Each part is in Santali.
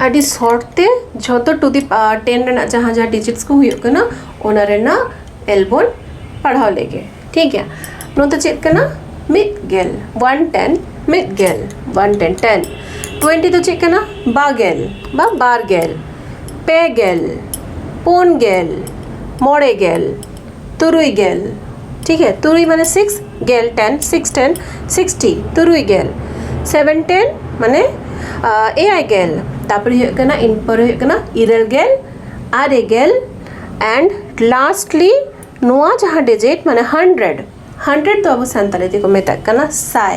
ᱟᱹᱰᱤ ᱥᱚᱨᱴ ᱛᱮ ᱡᱷᱚᱛᱚ ᱴᱩ ᱫᱤ ᱴᱮᱱ ᱨᱮᱱᱟᱜ ᱡᱟᱦᱟᱸ ᱡᱟᱦᱟᱸ ᱰᱤᱡᱤᱴᱥ ᱠᱚ ᱦᱩᱭᱩᱜ ᱠᱟᱱᱟ ᱚᱱᱟ ᱨᱮᱱᱟᱜ ᱮᱞ ᱵᱚᱱ ᱯᱟᱲᱦᱟᱣ ᱞᱮᱜᱮ ᱴᱷᱤᱠ ᱜᱮᱭᱟ ᱱᱚᱣᱟ ᱫᱚ ᱪᱮᱫ ᱠᱟᱱᱟ ᱢᱤᱫ ᱜᱮᱞ ᱚᱣᱟᱱ ᱴᱮᱱ ᱢᱤᱫ ᱜᱮᱞ ᱚᱣᱟᱱ ᱴᱮᱱ ᱴᱮᱱ ᱴᱩᱭᱮᱱᱴᱤ ᱫᱚ ᱪᱮᱫ ᱠᱟᱱᱟ ᱵᱟᱜᱮᱞ ᱵᱟ ᱵᱟᱨ ᱜᱮᱞ ᱯᱮ ᱜᱮᱞ ᱯᱩᱱ ᱜᱮᱞ ᱢᱚᱬᱮ ᱜᱮᱞ ᱛᱩᱨᱩᱭ ᱜᱮᱞ ᱴᱷᱤᱠ ᱜᱮᱭᱟ ᱛᱩᱨᱩᱭ ᱢᱟᱱᱮ ᱥᱤᱠᱥ ᱜᱮᱞ ᱴᱮᱱ ᱥᱤᱠᱥ ᱴᱮᱱ ᱥᱤᱠᱥᱴᱤ ᱛᱩᱨᱩᱭ ᱜᱮᱞ ᱥᱮᱵᱷᱮᱱ ᱴᱮᱱ ᱢᱟᱱᱮ ᱮᱭᱟᱭ ᱜᱮᱞ ᱛᱟᱨᱯᱚᱨᱮ ᱦᱩᱭᱩᱜ ᱠᱟᱱᱟ ᱤᱱ ᱯᱚᱨᱮ ᱦᱩᱭᱩᱜ ᱠᱟᱱᱟ ᱤᱨᱟᱹᱞ ᱜᱮᱞ ᱟᱨᱮ ᱜᱮᱞ ᱮᱱᱰ ᱞᱟᱥᱴᱞᱤ ᱱᱚᱣᱟ ᱡᱟᱦᱟᱸ ᱰᱤᱡᱤᱴ ᱢᱟᱱᱮ ᱦᱟᱱᱰᱨᱮᱰ ᱦᱟᱱᱰᱨᱮᱰ ᱫᱚ ᱟᱵᱚ ᱥᱟᱱᱛᱟᱲᱤ ᱛᱮᱠᱚ ᱢᱮᱛᱟᱜ ᱠᱟᱱᱟ ᱥᱟᱭ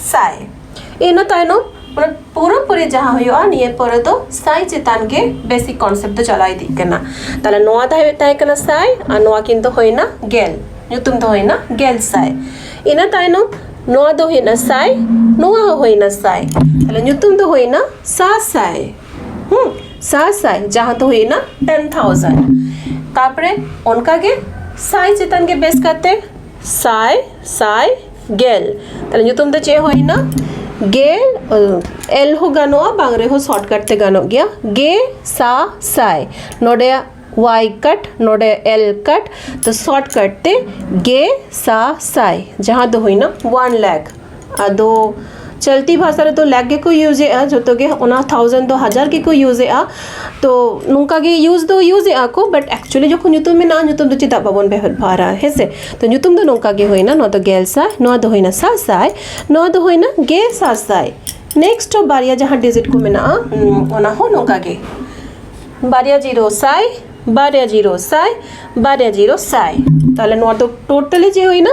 ᱥᱟᱭ ᱤᱱᱟᱹ ᱛᱟᱭᱱᱚᱢ ᱚᱱᱟ ᱯᱩᱨᱟᱹ ᱯᱩᱨᱤ ᱡᱟᱦᱟᱸ ᱦᱩᱭᱩᱜᱼᱟ ᱱᱤᱭᱟᱹ ᱯᱚᱨᱮ ᱫᱚ ᱥᱟᱭ ᱪᱮᱛᱟᱱ ᱜᱮ ᱵᱮᱥᱤᱠ ᱠᱚᱱᱥᱮᱯᱴ ᱫᱚ ᱪᱟᱞᱟᱣ ᱤᱫᱤᱜ ᱠᱟᱱᱟ ᱛᱟᱦᱚᱞᱮ ᱱᱚᱣᱟ ᱫᱚ ᱦᱩᱭᱩᱜ ᱛᱟᱦᱮᱸ ᱠᱟᱱᱟ ᱥᱟᱭ ᱟᱨ ᱱᱚᱣᱟ ᱠᱤᱱ ᱫᱚ ᱦᱩᱭᱱᱟ ᱜᱮᱞ ᱧᱩᱛᱩᱢ ᱫᱚ ᱦᱩᱭᱱᱟ ᱜᱮᱞ ᱥᱟᱭ ᱤᱱᱟᱹ ᱛᱟᱭᱱᱚᱢ ᱱᱚᱣᱟ ᱫᱚ ᱦᱩᱭᱱᱟ ᱥᱟᱭ ᱱᱚᱣᱟ ᱦᱚᱸ ᱦᱩᱭᱱᱟ ᱥᱟᱭ ᱛᱟᱦᱚᱞᱮ ᱧᱩᱛᱩᱢ ᱫᱚ ᱦᱩᱭᱱᱟ ᱥᱟᱥᱟᱭ ᱦᱩᱸ ᱥᱟᱥᱟᱭ ᱡᱟᱦᱟᱸ ᱫᱚ ᱦᱩᱭᱱᱟ ᱴᱮᱱ ᱛᱷᱟᱣᱡᱮᱱᱰ ᱛᱟᱨᱯᱚᱨᱮ ᱚᱱᱠᱟᱜᱮ ᱥᱟᱭ ᱪᱮᱛᱟᱱ ᱜᱮ ᱵᱮᱥ ᱠᱟᱛᱮ ᱥᱟᱭ ᱥᱟᱭ ᱜᱮᱞ ᱛᱟᱦᱞᱮ ᱧᱩᱛᱩᱢ ᱫᱚ ᱪᱮᱫ ᱦᱩᱭᱱᱟ ᱜᱮᱞ ᱮᱞ ᱦᱚᱸ ᱜᱟᱱᱚᱜᱼᱟ ᱵᱟᱝ ᱨᱮᱦᱚᱸ ᱥᱚᱨᱴᱠᱟᱴ ᱛᱮ ᱜᱟᱱᱚᱜ ᱜᱮᱭᱟ ᱜᱮ ᱥᱟ ᱥᱟᱭ ᱱᱚᱰᱮ ᱳᱣᱟᱭ ᱠᱟᱴ ᱱᱚᱰᱮ ᱮᱞ ᱠᱟᱴ ᱛᱚ ᱥᱚᱨᱴᱠᱟᱴ ᱛᱮ ᱜᱮ ᱥᱟ ᱥᱟᱭ ᱡᱟᱦᱟᱸ ᱫᱚ ᱦᱩᱭᱱᱟ ᱳᱣᱟᱱ ᱞᱮᱠᱷ ᱟᱫᱚ ᱪᱚᱞᱛᱤ ᱵᱷᱟᱥᱟ ᱨᱮᱫᱚ ᱞᱮᱠ ᱜᱮᱠᱚ ᱤᱭᱩᱡᱽ ᱮᱜᱼᱟ ᱡᱚᱛᱚ ᱜᱮ ᱚᱱᱟ ᱛᱷᱟᱣᱡᱮᱱᱰ ᱫᱚ ᱦᱟᱡᱟᱨ ᱜᱮᱠᱚ ᱤᱭᱩᱡᱽ ᱮᱜᱼᱟ ᱛᱚ ᱱᱚᱝᱠᱟ ᱜᱮ ᱤᱭᱩᱡᱽ ᱫᱚ ᱤᱭᱩᱡᱽ ᱮᱜᱼᱟ ᱠᱚ ᱵᱟᱴ ᱮᱠᱪᱩᱞᱞᱤ ᱡᱚᱠᱷᱚᱱ ᱧᱩᱛᱩᱢ ᱢᱮᱱᱟᱜᱼᱟ ᱧᱩᱛᱩᱢ ᱫᱚ ᱪᱮᱫᱟᱜ ᱵᱟᱵᱚᱱ ᱵᱮᱵᱚᱦᱟᱨᱟ ᱦᱮᱸ ᱥᱮ ᱛᱚ ᱧᱩᱛᱩᱢ ᱫᱚ ᱱᱚᱝᱠᱟ ᱜᱮ ᱦᱩᱭᱱᱟ ᱱᱚᱣᱟ ᱫᱚ ᱜᱮᱞ ᱥᱟᱭ ᱱᱚᱣᱟ ᱫᱚ ᱦᱩᱭᱱᱟ ᱥᱟᱥᱟᱭ ᱱᱚᱣᱟ ᱫᱚ ᱦᱩᱭᱱᱟ ᱜᱮ ᱥᱟᱥᱟᱭ ᱱᱮᱠᱥᱴ ᱵᱟᱨᱭᱟ ᱡᱟᱦᱟᱸ ᱰᱤᱡᱤᱴ ᱠᱚ ᱢᱮᱱᱟᱜᱼᱟ ᱚᱱᱟ ᱦᱚᱸ ᱱᱚᱝᱠᱟ ᱜᱮ ᱵᱟᱨᱭᱟ ᱡᱤᱨᱳ ᱥᱟᱭ ᱵᱟᱨᱭᱟ ᱡᱤᱨᱳ ᱥᱟᱭ ᱵᱟᱨᱭᱟ ᱡᱤᱨᱳ ᱥᱟᱭ ᱛᱟᱦᱚᱞᱮ ᱱᱚᱣᱟ ᱫᱚ ᱴᱳᱴᱟᱞᱤ ᱪᱮᱫ ᱦᱩᱭᱱᱟ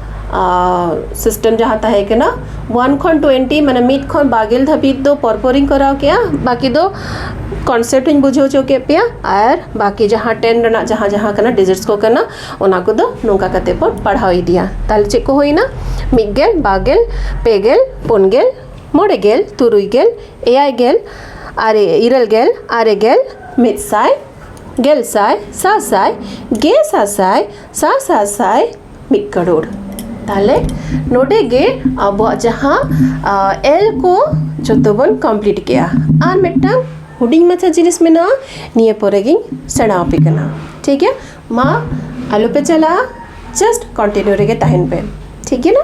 ᱥᱤᱥᱴᱮᱢ ᱡᱟᱦᱟᱸ ᱛᱟᱦᱮᱸ ᱠᱟᱱᱟ ᱚᱣᱟᱱ ᱠᱷᱚᱱ ᱴᱩᱭᱮᱱᱴᱤ ᱢᱟᱱᱮ ᱢᱤᱫ ᱠᱷᱚᱱ ᱵᱟᱨ ᱜᱮᱞ ᱫᱷᱟᱹᱵᱤᱡ ᱫᱚ ᱯᱚᱨ ᱯᱚᱨᱤᱧ ᱠᱚᱨᱟᱣ ᱠᱮᱫᱼᱟ ᱵᱟᱹᱠᱤ ᱫᱚ ᱠᱚᱱᱥᱮᱯᱴ ᱤᱧ ᱵᱩᱡᱷᱟᱹᱣ ᱦᱚᱪᱚ ᱠᱮᱫ ᱯᱮᱭᱟ ᱟᱨ ᱵᱟᱹᱠᱤ ᱡᱟᱦᱟᱸ ᱴᱮᱱ ᱨᱮᱱᱟᱜ ᱡᱟᱦᱟᱸ ᱡᱟᱦᱟᱸ ᱠᱟᱱᱟ ᱰᱤᱡᱤᱴᱥ ᱠᱚ ᱠᱟᱱᱟ ᱚᱱᱟ ᱠᱚᱫᱚ ᱱᱚᱝᱠᱟ ᱠᱟᱛᱮᱫ ᱵᱚᱱ ᱯᱟᱲᱦᱟᱣ ᱤᱫᱤᱭᱟ ᱛᱟᱦᱚᱞᱮ ᱪᱮᱫ ᱠᱚ ᱦᱩᱭᱱᱟ ᱢᱤᱫ ᱜᱮᱞ ᱵᱟᱨ ᱜᱮᱞ ᱯᱮ ᱜᱮᱞ ᱯᱩᱱ ᱜᱮᱞ ᱢᱚᱬᱮ ᱜᱮᱞ ᱛᱩᱨᱩᱭ ᱜᱮᱞ ᱮᱭᱟᱭ ᱜᱮᱞ ᱟᱨᱮ ᱤᱨᱟᱹᱞ ᱜᱮᱞ ᱟᱨᱮ ᱜᱮᱞ ᱢᱤᱫ ᱥᱟᱭ ᱜᱮᱞ ᱥᱟᱭ ᱥᱟᱥᱟᱭ ᱜᱮ ᱥᱟᱥᱟᱭ ᱥᱟᱼᱥᱟᱥᱟᱭ ᱢᱤᱫ ᱠᱟᱨᱳᱲ ᱛᱟᱦᱚᱞᱮ ᱱᱚᱰᱮ ᱜᱮ ᱟᱵᱚᱣᱟᱜ ᱡᱟᱦᱟᱸ ᱮᱞ ᱠᱚ ᱡᱚᱛᱚ ᱵᱚᱱ ᱠᱚᱢᱯᱞᱤᱴ ᱠᱮᱜᱼᱟ ᱟᱨ ᱢᱤᱫᱴᱟᱝ ᱦᱩᱰᱤᱧ ᱢᱟᱪᱷᱟ ᱡᱤᱱᱤᱥ ᱢᱮᱱᱟᱜᱼᱟ ᱱᱤᱭᱟᱹ ᱯᱚᱨᱮ ᱜᱤᱧ ᱥᱮᱬᱟ ᱟᱯᱮ ᱠᱟᱱᱟ ᱴᱷᱤᱠ ᱜᱮᱭᱟ ᱢᱟ ᱟᱞᱚᱯᱮ ᱪᱟᱞᱟᱜᱼᱟ ᱡᱟᱥᱴ ᱠᱚᱱᱴᱤᱱᱤᱭᱩ ᱨᱮᱜᱮ ᱛᱟᱦᱮᱱ ᱯᱮ ᱴᱷᱤᱠ ᱜᱮᱭᱟ